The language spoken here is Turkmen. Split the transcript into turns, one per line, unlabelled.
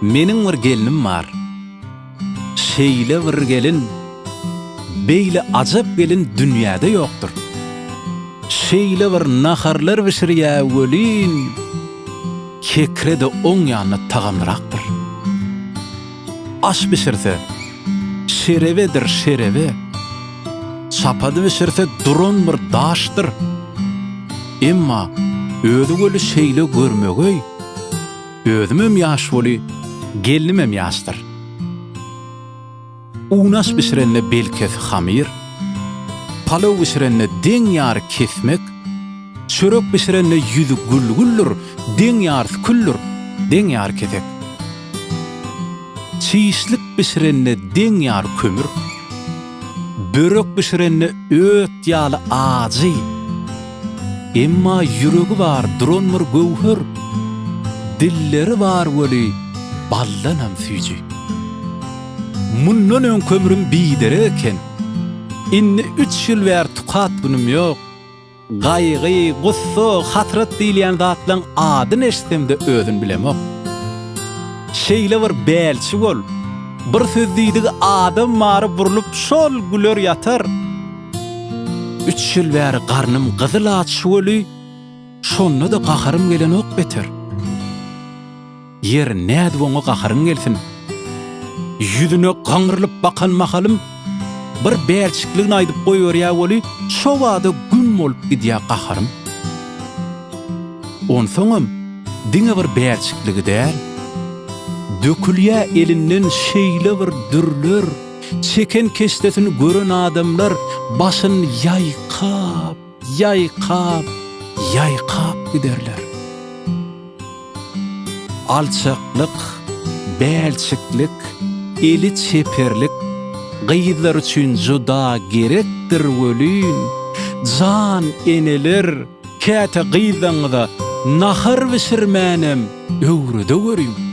Meniň bir gelnim bar. Şeýle bir gelin, beýle ajap gelin dünýäde ýokdur. Şeýle bir naharlar bişirýä welin, Kekre-de oň ýanyna tagamlyrakdyr. Aş bişirse, şerebedir şerebe, Çapady bişirse duran bir daşdyr. Emma özi weli şeýle görmegeý, Özümem ýaş weli, gelnimem ýaşdyr. Unaş bişirende belkesi hamyr, Palaw bişirende deň ýary kesmek, Çörek bişirende ýüzi gül-güldür, Deň ýarysy küldür, deň ýary kesek. Çişlik bişirende deň ýar kömür, Börek bişirende öt ýaly ajy, Emma ýüregi bar duran bir göwher, Dilleri bar weli baldanam süýji. Mundan öňki ömrüm biderek eken, Indi üç ýyl bäri tukat günüm ýok, Gaýgy, gussa, hasrat diýilýän zatlaň adyny eşitsem-de özün bilemok. Şeýle bir bälçi bol, bir söz diýdigi adam mary burlup şol güler ýatar. Üç ýyl bäri garnym gyzyl aç şuweli, şonda-da gaharym gelenok beter. Ýer, nädip oňa gaharyň gelsin? Ýüzüne gaňrylyp bakan mahalym, bir bälçikligini aýdyp goýberýä weli, şo bada güm bolup gidýä gaharym. Onsoňam, diňe bir bälçikligi däl, dökülýä elinden şeýle bir dürler, çeken keşdesini gören adamlar başyn ýaýkap. Ýaýkap, ýaýkap giderler. Alçaklyk, bälçiklik, eli çeperlik gyzlar üçin juda gerekdir welin, jan eneler, käte gyzlaryňyza nahar bişirmänem öwredeweriň.